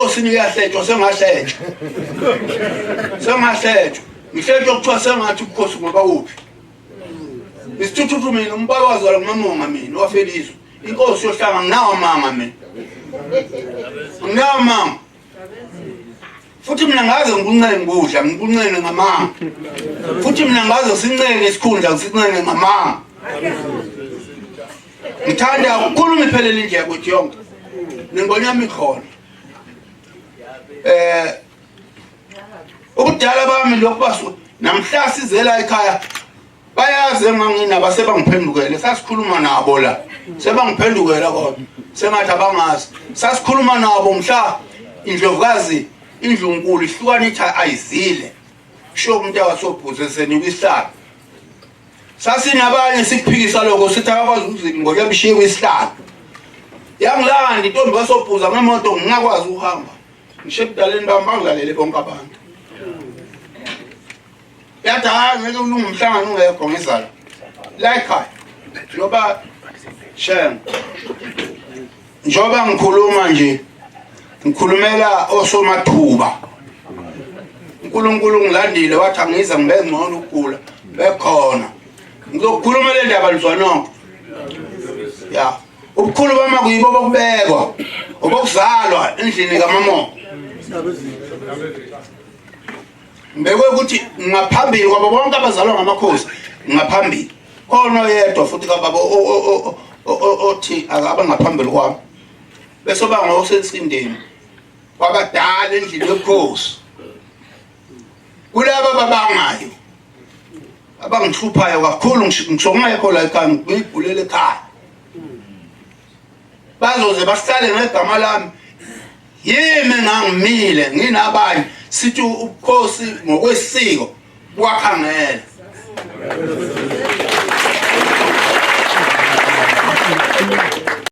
enkosini uyahletshwa sengahletshwa sengahletshwa ngihletshwa kuthiwa sengathi ubukhosi ngoba kuphi isithuthuthu mina umbala wazalwa ngumamonga mina wafelizwe inkosi yohlanga nginawo amanga mina nginawo amanga futhi mina ngaze ngikunxele ngikudla ngikunxele ngamanga futhi mina ngaze sinxele isikhundla ngisinxele ngamanga Ngithanda ukukhuluma iphelele indlela ukuthi yonke ningonyama ikhona eh ubudala bami lokhu basu namhla sizela ekhaya bayazi enganginabo sebangiphendukele sasikhuluma nabo la sebangiphendukela kodwa sengathi abangazi sasikhuluma nabo mhla indlovukazi indlunkulu ihlukana ithi ayizile sho umuntu awasobhuze senikwihlala sasinabanye sikuphikisa lokho sithi akakwazi ukuzila ngoba yabishiye kwisihlalo yangilanda intombi basobhuza ngemoto ngingakwazi ukuhamba ngisho ebudaleni bami bangilalele bonke abantu yathi hayi ngeke ulunge umhlangano ungekho ngizala la ekhaya noba shem Njoba ngikhuluma nje ngikhulumela osomathuba uNkulunkulu ngilandile wathi angiza ngibe ngcono ukugula bekhona ngizokhuluma le ndaba lizwanoko ya ubukhulu bama kuyibo bokubekwa obokuzalwa endlini kamamo ngibekwe ukuthi ngaphambili kwabo bonke abazalwa ngamakhosi ngaphambili khona oyedwa futhi kababa othi akaba ngaphambili kwami bese oba ngosensindeni kwabadala endlini yobukhosi kulaba babangayo abangihluphayo kakhulu ngisho ngingekho la ekhaya ngibhulele ekhaya bazoze bahlale ngegama lami yimi ngangimile nginabanye sithi ubukhosi ngokwesiko kwakhangela